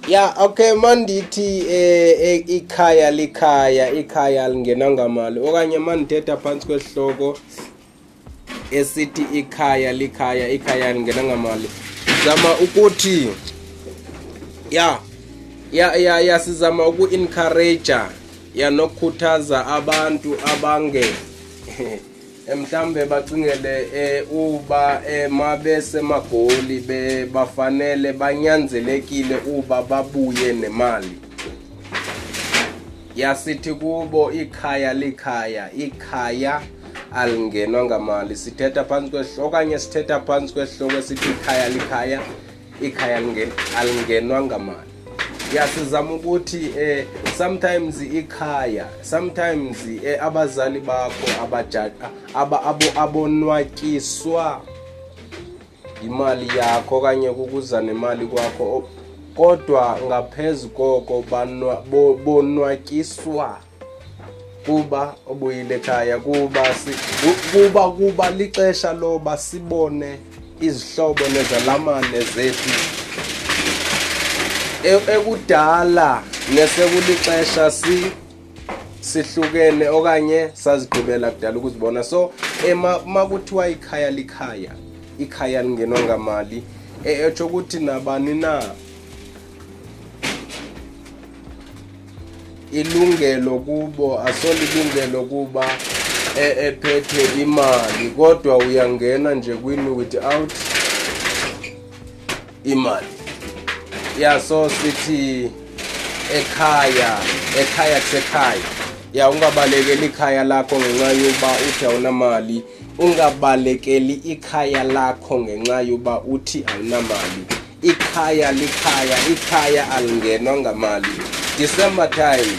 ya okay mandithi eh, eh ikhaya likhaya ikhaya lingena ngamali okanye mandithetha phansi kwesihloko esithi ikhaya likhaya ikhaya lingena ngamali zama ukuthi ya ya ya, ya sizama uku-encourager ya nokukhuthaza abantu abange Eh, mhlambe bacingele eh, uba eh, mabesemagoli bebafanele banyanzelekile uba babuye nemali yasithi kubo ikhaya likhaya ikhaya alingenwa ngamali sithetha phantsi kwehloko okanye sithetha phantsi kwehloko esithi ikhaya likhaya ikhaya alingenwa ngamali ya sizama ukuthi eh sometimes ikhaya sometimes eh, abazali bakho abajaji aba abo abonwatyiswa imali yakho kanye kukuza nemali kwakho kodwa ngaphezulu koko bonwatyiswa kuba obuyile ekhaya kuba kuba kuba lixesha loba sibone izihlobo nezalamane zethu e, ekudala nesekulixesha si sihlukene okanye sazigqibela kudala ukuzibona so uma kuthiwa ikhaya likhaya ikhaya lingenwa ngamali e, etsho ukuthi nabani na ilungelo kubo asolilungelo kuba e, ephethe imali kodwa uyangena nje kwini without imali ya so sithi ekhaya ekhaya kusekhaya ya ungabalekeli ikhaya lakho ngenxa yoba uthi awunamali ungabalekeli ikhaya lakho ngenxa yoba uthi awunamali Ikhaya likhaya, ikhaya alingenwa ngamali. December time.